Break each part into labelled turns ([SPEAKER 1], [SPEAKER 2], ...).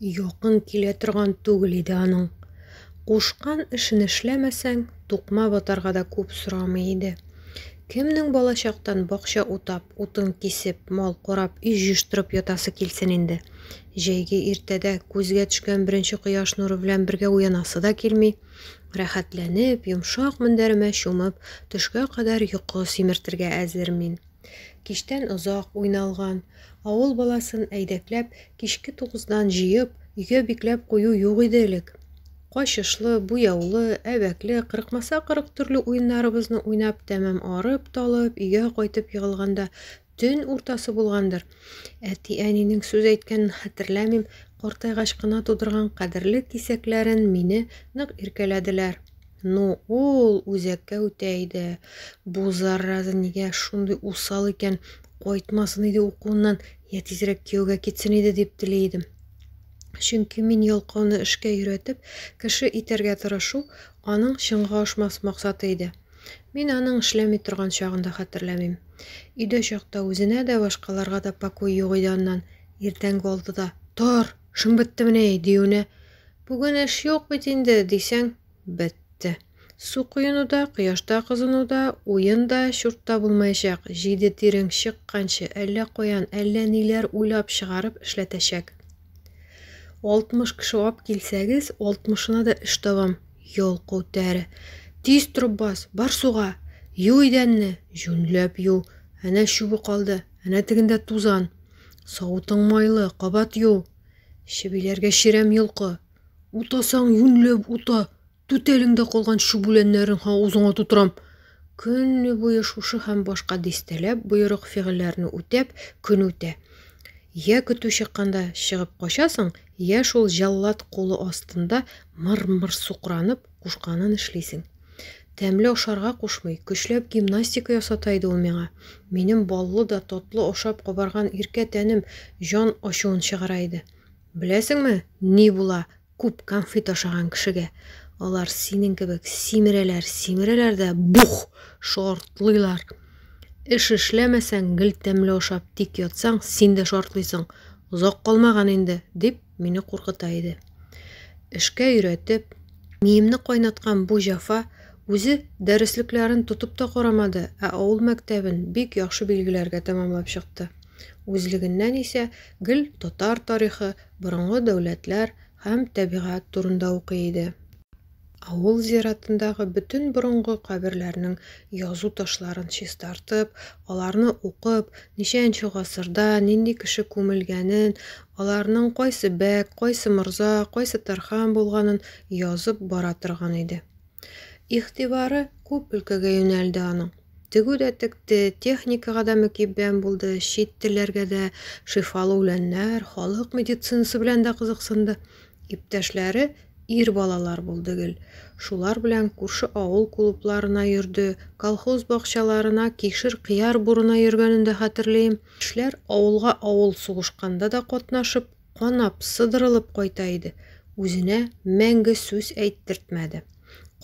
[SPEAKER 1] Якын килә торган түгел иде аның. Кушкан эшен эшләмәсәң, тукма батарга да күп сорамый иде. Кемнең балачактан бакча утап, утын кисеп, мал корап, өй җыештырып ятасы килсен инде. Җәйге иртәдә күзгә төшкән беренче кояш нуры белән бергә уянасы да килми. Рәхәтләнеп, йомшак мендәремә чумып, төшкә кадәр йокы симертергә әзер мин. Кичтән озак уйналган. Авыл баласын әйдәкләп, кичке тугыздан җыеп, өйгә бикләп кую юк иде элек. Качышлы, буяулы, әбәкле, кырыкмаса кырык төрле уеннарыбызны уйнап тәмам арып-талып, өйгә кайтып егылганда төн уртасы булгандыр. Әти-әнинең сүз әйткәнен хәтерләмим, картайгач кына тудырган кадерле кисәкләрен мине нык иркәләделәр. Ну, ул үзәккә үтә иде. Бу зараза нигә шундый усал икән, кайтмасын иде укуыннан, я тизрәк кияүгә китсен иде дип тели идем. Чөнки мин ялкауны эшкә өйрәтеп, кеше итәргә тырышу аның чынга ашмас максаты иде. Мин аның эшләми торган чагын да хәтерләмим. Өйдә чакта үзенә дә, башкаларга да покой юк иде аннан. Иртәнге алтыда, тор! Шун беттемени? диюенә, Бүген эш юк бит инде, дисәң, бетте. Су коену да, кояшта кызыну да, уен да, чурт та булмаячак. Җиде тирең чыкканчы, әллә каян, әллә ниләр уйлап чыгарып эшләтәчәк. Алтмыш кеше алып килсәгез, алтмышына да эш табам. Юл күтәре. Тиз торып бас, бар суга. Ю идәнне, җүнләп ю. Әнә чүбе калды, әнә тегендә тузан. Савытың майлы, кабат ю. Чебиләргә чирәм йолкы. Утасаң, юньләп ута. Түтәлеңдә калган чүбүләннәрен авызыңа тутырам. Көне буе шушы һәм башка дистәләп боерык фигыльләрне үтәп, көн үтә. Йә көтү чыкканда чыгып качасың, йә шул җәллад кулы астында мыр-мыр сукранып, кушканын эшлисең. Тәмле ашарга кушмый, көчләп гимнастика ясата иде ул миңа. Минем баллы да, татлы ашап кабарган иркә тәнем җан ачуын чыгара иде. Беләсеңме, ни була күп конфет ашаган кешегә? Алар синең кебек симерәләр, симерәләр дә бух! Шартлыйлар. Эш эшләмәсәң, гел тәмле ашап тик ятсаң, син дә шартлыйсың. Озак калмаган инде, дип, мине куркыта иде. Эшкә өйрәтеп, миемне кайнаткан бу җафа үзе дәреслекләрен тотып та карамады, ә авыл мәктәбен бик яхшы билгеләргә тәмамлап чыкты. Үзлегеннән исә гел татар тарихы, борынгы дәүләтләр һәм тәбигать турында укый иде. Авыл зиратындагы бөтен борынгы каберләрнең язу ташларын чистартып, аларны укып, ничәенче гасырда, нинди кеше күмелгәнен, аларның кайсы бәк, кайсы морза, кайсы тархан булганын язып бара торган иде. Игътибары күп өлкәгә юнәлде аның. Тегү дә текте, техникага да мөкиббән булды, чит телләргә дә, шифалы үләннәр, халык медицинасы белән дә кызыксынды. Иптәшләре Ир балалар булды гел. Шулар белән күрше авыл клубларына йөрде, колхоз бакчаларына кишер-кыяр бурына йөргәнен дә хәтерлим. Яшьләр авылга авыл сугышканда да катнашып, канап, сыдырылып кайта иде. Үзенә мәңге сүз әйттертмәде.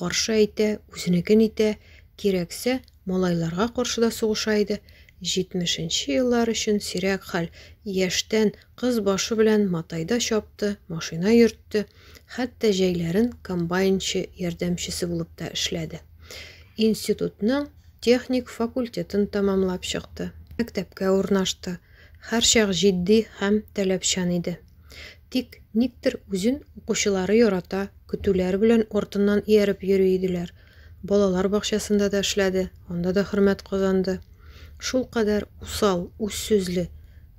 [SPEAKER 1] Каршы әйтә, үзенекен итә, кирәксә, малайларга каршы да сугыша иде. Җитмешенче еллар өчен сирәк хәл, яшьтән Кыз башы белән матайда чапты, машина йөртте, хәтта җәйләрен комбайнчы ярдәмчесе булып та эшләде. Институтның техник факультетын тәмамлап чыкты, мәктәпкә урнашты, һәрчак җитди һәм таләпчән иде. Тик никтер үзен укучылары ярата, көтүләр белән артыннан ияреп йөри иделәр, Балалар бакчасында да эшләде, анда да хөрмәт казанды. Шулкадәр усал, үз сүзле,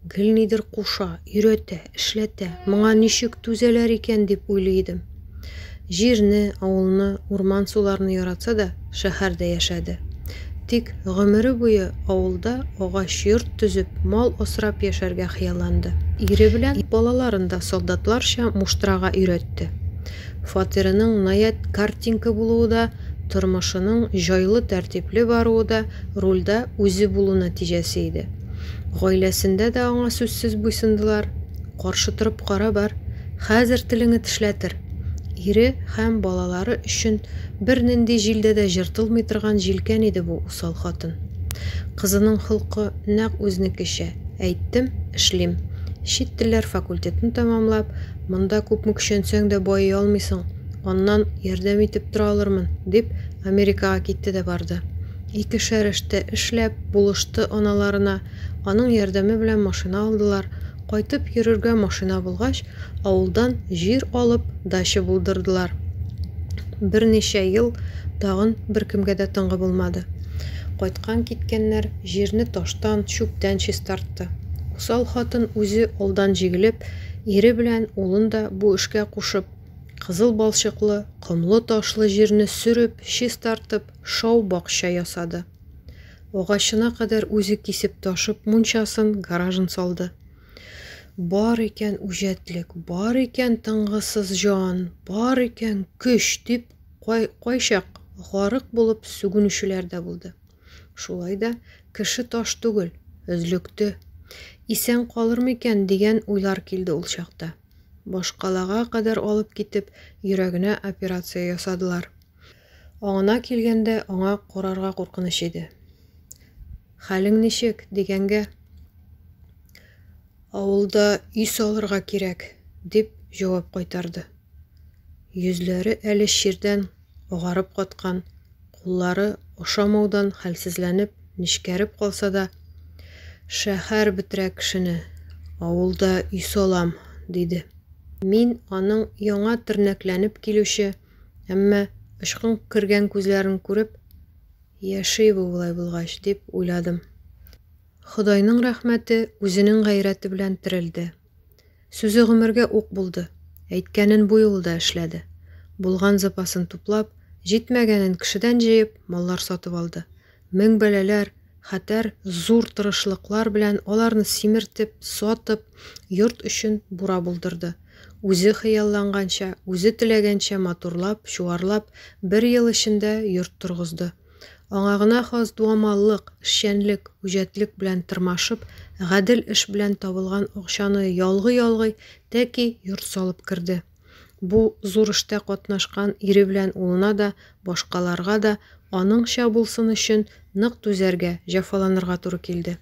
[SPEAKER 1] гел нидер куша, өйрәтә, эшләтә, моңа ничек түзәләр икән дип уйлый идем. Җирне, авылны, урман-суларны яратса да, шәһәрдә яшәде. Тик гомере буе авылда агач йорт төзеп, мал асрап яшәргә хыялланды. Ире белән балаларын да солдатларча муштрага өйрәтте. Фатирының наять картинка булуы да, тормышының җайлы тәртипле баруы да рульдә үзе булу нәтиҗәсе иде. Гаиләсендә дә аңа сүзсез буйсындылар. Каршы торып кара бар, хәзер телеңе тешләтер! Ире һәм балалары өчен бернинди җилдә дә җыртылмый торган җилкән иде бу усал хатын. Кызының холкы нәкъ үзнекечә, әйттем, эшлим. Чит телләр факультетын тәмамлап, Монда күпме көчәнсәң дә байый алмыйсың, аннан ярдәм итеп тора алырмын, дип, Америкага китте дә барды. Ике шәрәштә эшләп, булышты аналарына, аның ярдәме белән машина алдылар, кайтып йөрергә машина булгач, авылдан җир алып, дача булдырдылар. Берничә ел тагын беркемгә дә тынгы булмады. Кайткан-киткәннәр җирне таштан, чүптән чистартты. Усал хатын үзе алдан җигелеп, Ире белән улын да бу эшкә кушып, кызыл балчыклы, комлы-ташлы җирне сөреп, чистартып, шау бакча ясады. Агачына кадәр үзе кисеп ташып, мунчасын, гаражын салды. Бар икән үҗәтлек, бар икән тынгысыз җан, бар икән көч, дип кай-кайчак гарык булып сүгенүчеләр дә булды. Шулай да кеше таш түгел, өзлекте. Исән калыр микән дигән уйлар килде ул чакта. Башкалага кадәр алып китеп, йөрәгенә операция ясадылар. Аңына килгәндә, аңа карарга куркыныч иде. Хәлең ничек? дигәнгә, Авылда өй салырга кирәк, дип җавап кайтарды. Йөзләре әле чирдән агарып каткан, куллары ошамаудан хәлсезләнеп, нечкәреп калса да, Шәһәр бетерә кешене, авылда өй салам, диде. Мин аның яңа тернәкләнеп килүче, әмма очкын кергән күзләрен күреп, яши бу болай булгач, дип уйладым. Ходайның рәхмәте үзенең гайрәте белән терелде. Сүзе гомергә ук булды. Әйткәнен бу юлы да эшләде. Булган запасын туплап, җитмәгәнен кешедән җыеп, маллар сатып алды. Мең бәлаләр, хәтәр, зур тырышлыклар белән аларны симертеп, сатып, йорт өчен бура булдырды. Үзе хыялланганча, үзе теләгәнчә матурлап, чуарлап, бер ел эчендә йорт торгызды. Аңа гына хас дуамаллык, эшчәнлек, үҗәтлек белән тырмашып, гадел эш белән табылган акчаны ялгый-ялгый тәки йорт салып керде. Бу зур эштә катнашкан ире белән улына да, башкаларга да аныңча булсын өчен нык түзәргә, җәфаланырга туры килде.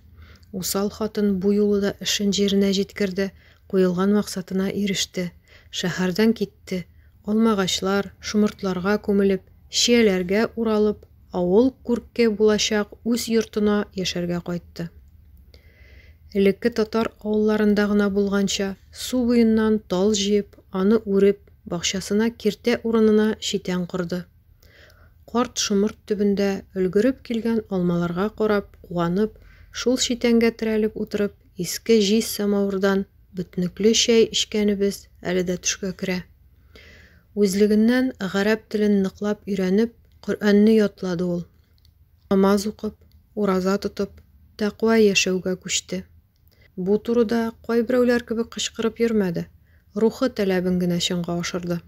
[SPEAKER 1] Усал хатын бу юлы да эшен җиренә җиткерде, Куелган максатына иреште. Шәһәрдән китте. Алмагачлар, шомыртларга күмелеп, чияләргә уралып, авыл күрке булачак үз йортына яшәргә кайтты. Элекке татар авылларында гына булганча, су буеннан тал җыеп, аны үреп, бакчасына киртә урынына читән корды. Карт шомырт төбендә өлгереп килгән алмаларга карап, куанып, шул читәнгә терәлеп утырып, иске җиз самавырдан бөтнекле чәй эчкәнебез әле дә төшкә керә. Үзлегеннән гарәп телен ныклап өйрәнеп, Коръәнне ятлады ул. Намаз укып, ураза тотып, тәкъва яшәүгә күчте. Бу турыда кайберәүләр кебек кычкырып йөрмәде, рухы таләбен генә чынга ашырды.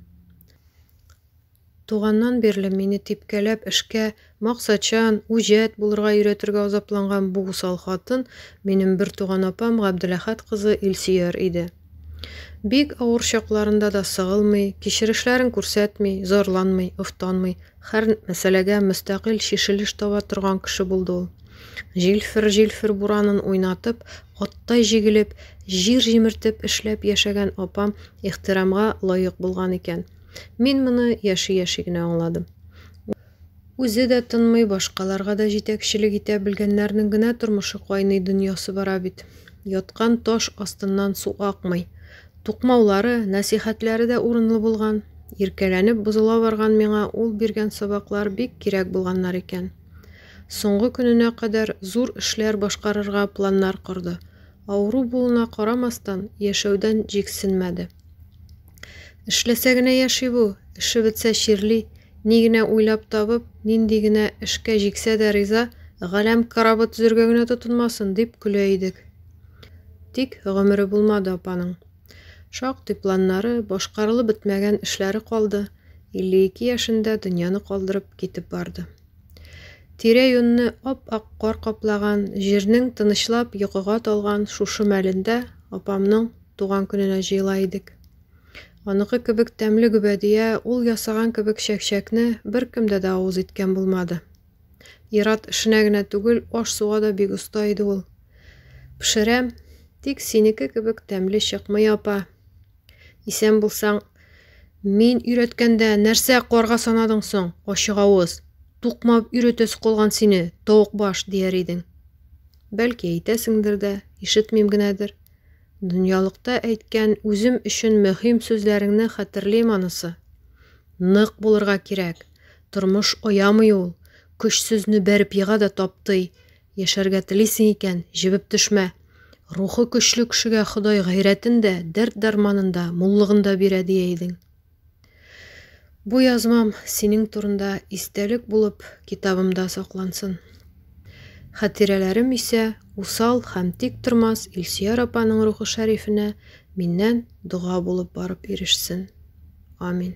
[SPEAKER 1] Туганнан бирле мине типкәләп эшкә, максатчан, үҗәт булырга өйрәтергә азапланган бу усал хатын минем бертуган апам Габделәхәт кызы Илсөяр иде. Бик авыр чакларында да сыгылмый, кичерешләрен күрсәтми, зарланмый, офтанмый, хәр мәсьәләгә мөстәкыйль чишелеш таба торган кеше булды ул. Җилфер-җилфер буранын уйнатып, аттай җигелеп, җир җимертеп эшләп яшәгән апам ихтирамга лаек булган икән. Мин моны яши-яши генә аңладым. Үзе дә тынмый, башкаларга да җитәкчелек итә белгәннәрнең генә тормышы кайный дөньясы бара бит. Яткан таш астыннан су акмый. Тукмаулары, нәсыйхәтләре дә урынлы булган. Иркәләнеп бозыла барган миңа ул биргән сабаклар бик кирәк булганнар икән. Соңгы көненә кадәр зур эшләр башкарырга планнар корды. Авыру булуына карамастан, яшәүдән җиксенмәде. Эшләсә генә яши бу, эше бетсә чирли, ни генә уйлап табып, нинди генә эшкә җиксә дә риза, галәм корабы төзергә генә тотынмасын, дип көлә идек. Тик гомере булмады апаның. Шактый планнары, башкарылып бетмәгән эшләре калды, 52 яшендә дөньяны калдырып китеп барды. Тирә-юньне ап-ак кар каплаган, җирнең тынычлап йокыга талган шушы мәлендә апамның Туган көненә җыела идек. Аныкы кебек тәмле гөбәдия, ул ясаган кебек чәкчәкне беркемдә дә авыз иткән булмады. Ират эшенә генә түгел, аш-суга да бик оста иде ул. Пешерәм, тик синеке кебек тәмле чыкмый, апа. Исән булсаң, Мин өйрәткәндә нәрсә карга санадың соң, ачыгавыз? Тукмап өйрәтәсе калган сине, тавык баш, дияр идең. Бәлки әйтәсеңдер дә, ишетмим генәдер. Дөньялыкта әйткән үзем өчен мөһим сүзләреңне хәтерлим анысы. Нык булырга кирәк. Тормыш оямый ул. Көч сүзне бәреп ега да таптый. Яшәргә телисең икән, җебеп төшмә. Рухы көчле кешегә Ходай гайрәтен дә, дәрт-дарманын да, муллыгын да бирә, дия идең. Бу язмам синең турында истәлек булып китабымда саклансын. Хатирәләрем исә усал һәм тик тормас Илсөяр апаның рухы шәрифенә миннән дога булып барып ирешсен. Амин.